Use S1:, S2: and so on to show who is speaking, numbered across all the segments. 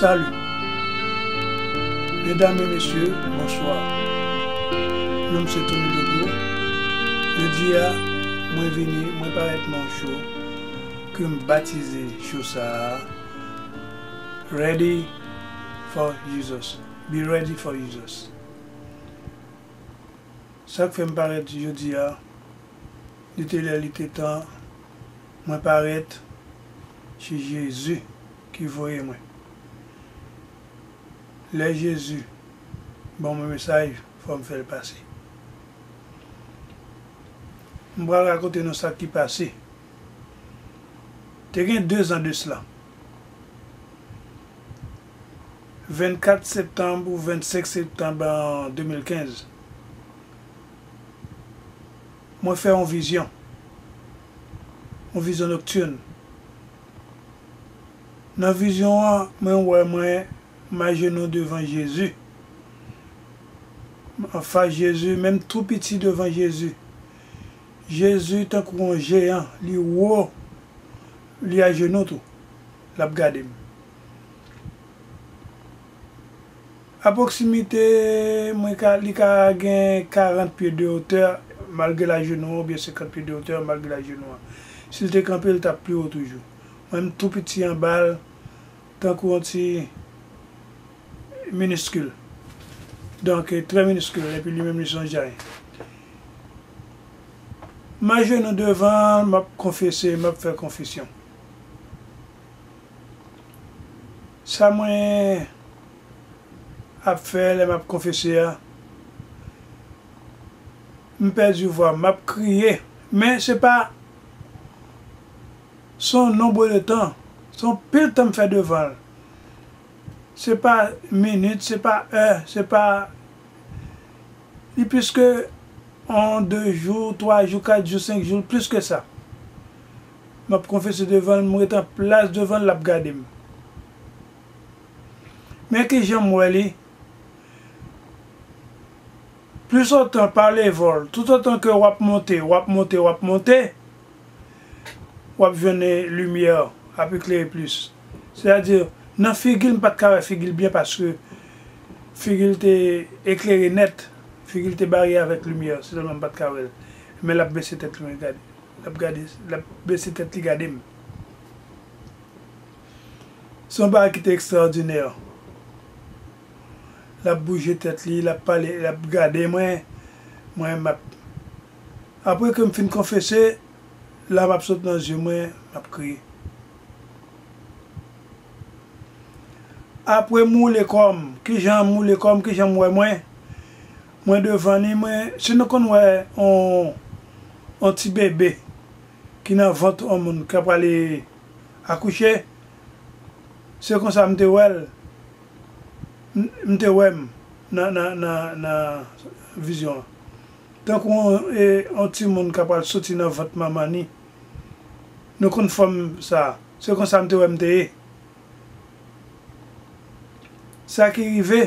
S1: Salut Medam e mesye bonswa Nonm se Tony Dogo Jodia mwen vini mwen parèt nan yon show kem batize show sa a Ready for Jesus Be ready for Jesus Sak fèm parèt jodia li te lè li te tan Mwen parèt se Jezi ki voye mwen Lè Jezi ban mwen mesaj fò m fè l pase M pral rakonte nou sa ki pase Te gen dezan de sla 24 septanb ou 25 septanb an 2015 Mwen fè yon vizyon. Yon vizyon nocturne. Nan vizyon an, mwen wè mwen m ajenou devan Jezi. M anfas Jezi, men m tou piti devan Jezi. Jezi tankou yon jeyan, li wo, li ajenou tou. L ap gade m. A pwoksimite, mwen ka, li ka gen 40 pye de otè malgre lajenou an oubyen 50 pye de otè malgre lajenou an. Si l te kanpe, l t ap pi wo toujou. Mwen m tou piti anba l, tankou yon ti miniskil. Donk, trè miniskil, epi li menm li s on jay. M ajenou devan l, m ap konfese, m ap fè konfesyon. Sa mwen ap fè lè map konfese a m pèdi vwa m map kriye men se pa se yon nonbre de tan se yon pil tan m fè devan l se pa minit se pa è se pa li plis ke yon 2 jou 3 jou 4 jou 5 jou l plis ke sa Map konfese devanl m ret an plas devanl lap gadem men kijanm wè li plus otan pa level tout otan ke wap monte wap monte wap monte wap jwenn limyè ap eklere plus se a di nan figil m pat ka wè figil byen paske figil te eklere nèt figil te bare avèk limyè se tèlman m pat ka wèl men lap bese tèt li mwen gad. Lap gade lap bese tèt li gade m. Se yon bagay ki te ekstraòdinè. Lap bouje tèt li, lap pale, lap gade mwen, mwen map. Apre ke m fin konfese, lam ap sot nan zye mwen, map kriye. Apre m woule kò m, kijan m woule kò m, kijan m wè mwen. Mwen devan li mwen si nou konn wè on on ti bebe ki nan vant on moun kap prale akouche se konsa m te wèl m te wèm nan nan nan nan vizyon an tankou on e on ti moun kap pral soti nan vant manman ni nou konn fòm sa se konsa m te wèm te ye sa ki rive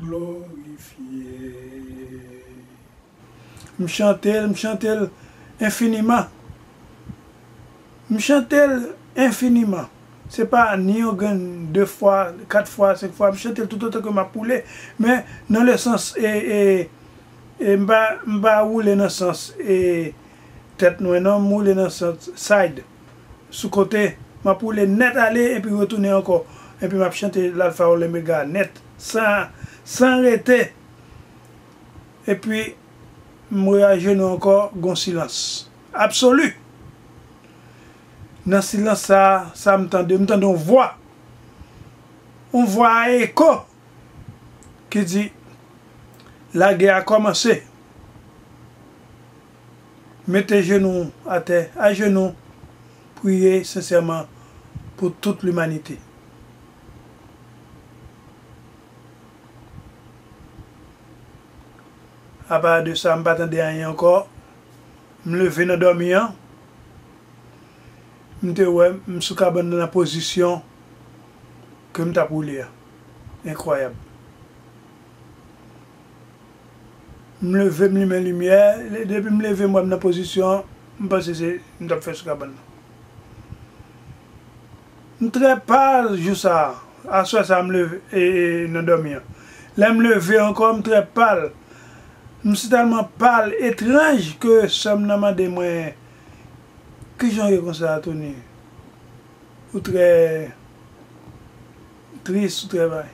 S1: Glorifye. M chante l, m chante l enfiniman. M chante l enfiniman. Se pa ni yon grenn, de fwa, kat fwa, senk fwa. M chante l toutotan ke m ap woule. Men, nan le sans e, e, e m pa, m pa woule nan sans e tèt mwen non. M woule nan sans side. sou kote, m ap woule nèt ale epi retounen ankò, epi m ap chante Lalfa ou Lomega nèt, san, san rete. Epi, m mwen ajenou ankò, gen yon silans absoli. Nan silans sa a, sa m tande, m tande yon vwa, yon vwa a eko, ki di, Lagè a kòmanse. Mete jenou w atè, ajenou, priye sensèman pou tout limanite. Apa de sa, m pa tande anyen ankò. M leve nan dòmi an, m te wè m sou kabann nan nan pozisyon ke m t ap woule a. Enkwayab! M leve m limen limyè, depi m leve m wè m nan pozisyon an, m panse se m t ap fè sou kabann nan. M trè pal jou sa a, aswè sa a m leve e nan dòmi an. Lè m leve ankò m trè pal, m si tèlman pal, etranj ke sè m nan mande mwen, Kijan w ye konsa a Tony? Ou trè tris, ou trè bay.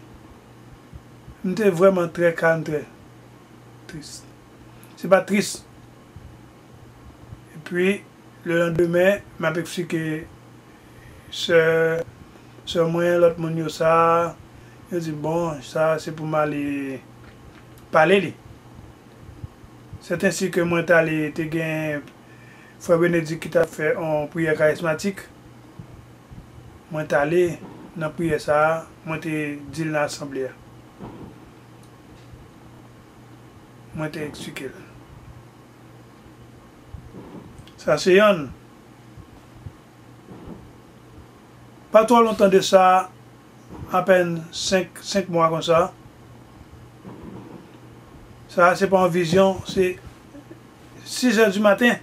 S1: M te vrèman trè kalm trè tris. Se pa tris. Epi le landemen m ap eksplike sè sè mwen lòt moun yo sa. Yo di bon sa se pou m ale pale li. Sètensi ke mwen t ale te gen frè Benedik ki t ap fè on priyè karismatik. Mwen t ale nan priyè sa a mwen te di l nan asanble a. Mwen te eksplike l. Sa se yonn. Pa twò lontan de sa, apèn senk, senk mwa konsa, sa a se pa yon vizyon, se sizè di maten.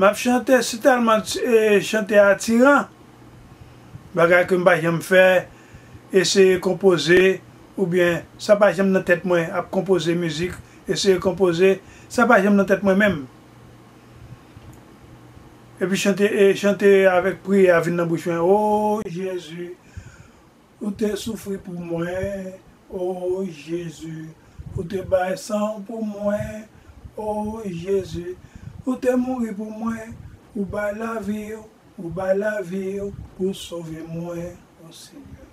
S1: Map chante si tèlman chante atiran bagay ke m pa janm fè eseye konpoze oubyen sa pa janm nan tèt mwen ap konpoze mizik eseye konpoze sa pa janm nan tèt mwen menm epi chante chante avèk priyè a vin nan bouch mwen oo jezi. Ou te soufri pou mwen, O Jezi, Ou te bay san Ou pou mwen, O Jezi, Ou te mouri pou mwen, Ou bay lavi Ou, Ou bay lavi Ou pou sove mwen, O Senyè.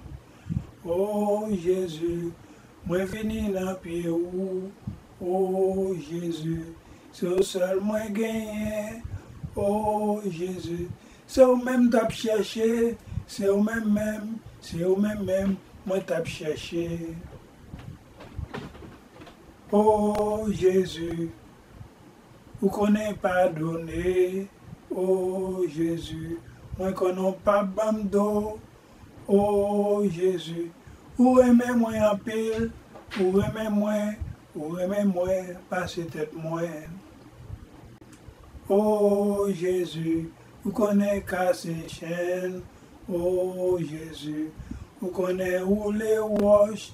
S1: O Jezi, mwen vini nan pye Ou, O Jezi, se Ou sèl mwen genyen, O Jezi, Se ou menm m tap chèche, se ou menm menm, se ou menm menm mwen tap chèche ooh Jezi ou konnen padone ooh Jezi mwen konnen w pap banm do Ooh Jezi ou renmen mwen anpil ou renmen mwen ou renmen mwen pase tèt mwen ooh Jezi ou konnen kase chèn ooh Jezi ou konnen woule wòch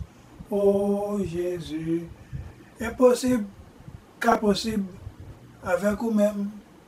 S1: ooh Jezi enposib ka posib avèk ou menm.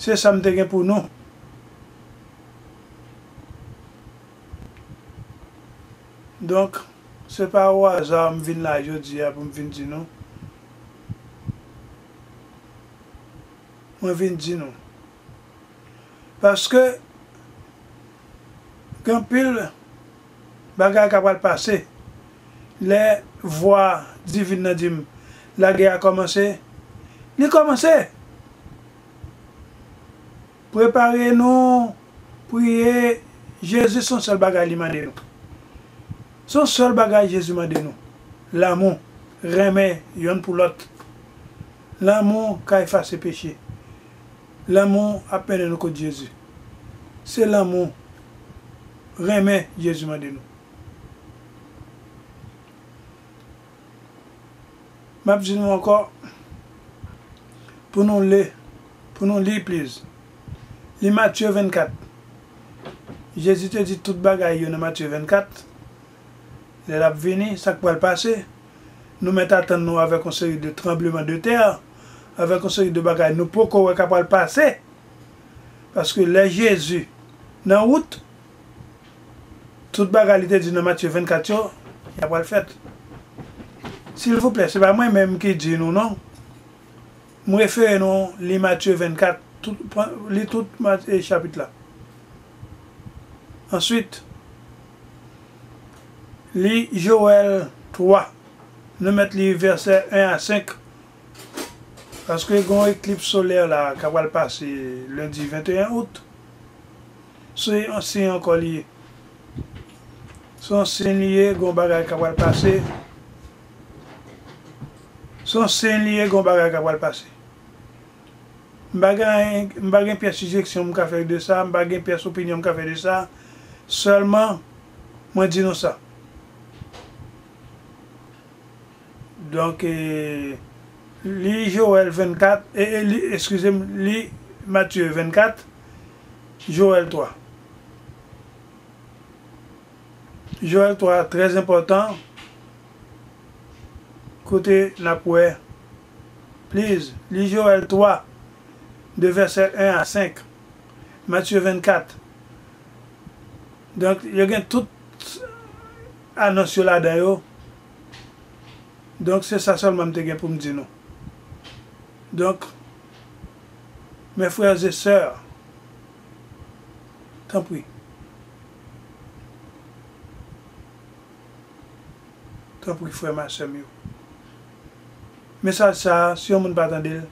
S1: Se sa m te gen pou nou. Donk, se pa o aza m vin la jodi a pou m vin di nou. Mwen vin di nou. Paske, gen anpil. Bagay ka pral pase. Lè vwa divin nan di m, Lagè a kòmanse, li kòmanse! Prepare nou, priye, Jezi son sèl bagay li mande nou. Son sèl bagay Jezi mande nou, lanmou, renmen yonn pou lòt. Lanmou ka efase peche. Lanmou ap mennen nou kot Jezi. Se lanmou, renmen Jezi mande nou. M ap di nou ankò pou nou le, pou nou li please. Li Matye 24. Jezi te di tout bagay yo nan Matye 24. Lè l ap vini, sa k pral pase. nou mèt atann nou avèk yon seri de tranbleman de tè, avèk yon seri de bagay nou poko wè ka pral pase, paske lè Jezi nan wout, tout bagay li te di nan Matye 24 yo, ya pral fèt. Silvouplè, se pa mwen menm ki di nou non, m refere nou li Matye 24, li tout Matye chapit la. Answit. Li Joël 3, nou mèt li vèsè 1 a 5, paske gen yon eklips solè la a k apral pase lendi 21 out. Se yon siy ankò li ye. Se yon siy li ye, gen yon bagay k apral pase. Se yon siy li ye, gen yon bagay k apral pase. M pa gen anyen, m pa gen pyès sijeksyon m ka fè de sa, m pa gen pyès opinyon m ka fè de sa, sèlman mwen di nou sa. Donk, li Jowèl 24, e, e, li, eskize m, li Matye 24, Jowèl 3. Jowèl 3 a trèzenpòtan, kote n ap wè Please, li Joël 3, de vèsè 1 a 5, Mathieu 24. Donk, yo gen tout anons yo ladan yo. Donk, se sa sèlman m te gen pou m di nou. Donk, mes frères et sœurs, tanpri, tanpri frè m a sè m yo. Mesaj sa a, si yon moun pa tande l,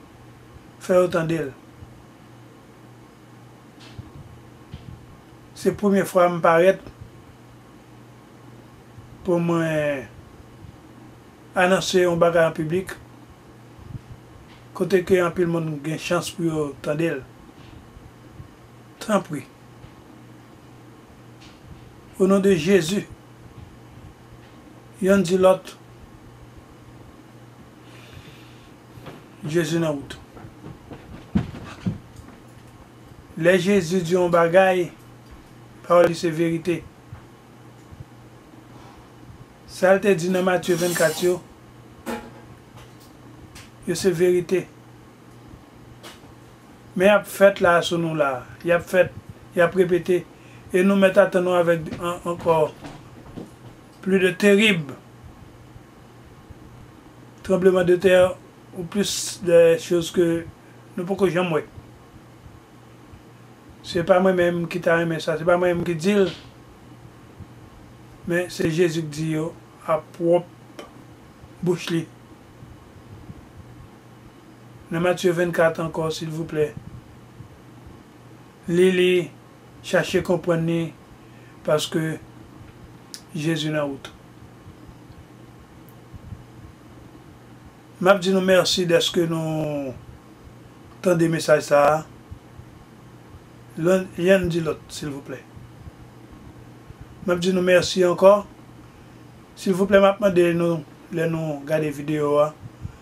S1: fè yo tande l. Se premye fwa m parèt pou mwen anonse yon bagay an piblik, kote ke anpil moun gen chans pou yo tande l. Tanpri, o non de Jezi, Yonn di lòt Jezi nan wout. Lè Jezi di yon bagay, pawòl li se verite. Sa l te di nan Matye 24 yo, yo se verite. Men y ap fèt la a sou nou la a. Y ap fèt, y ap repete, e nou mèt atann nou avèk de an ankò pli de terib tranbleman de tè ou plis de choz ke nou poko janm wè. Se pa mwen menm ki ta renmen sa, se pa mwen menm ki di l, men se Jezi k di yo a pwòp bouch li. Nan Matye 24 ankò silvouplè. Li li, chache konprann li paske Jezi nan wout. Map di nou mèsi dèske nou tande mesaj sa a. Yonn di lòt silvouplè. Map di nou mèsi ankò. Silvouplè map mande nou lè nou gade video a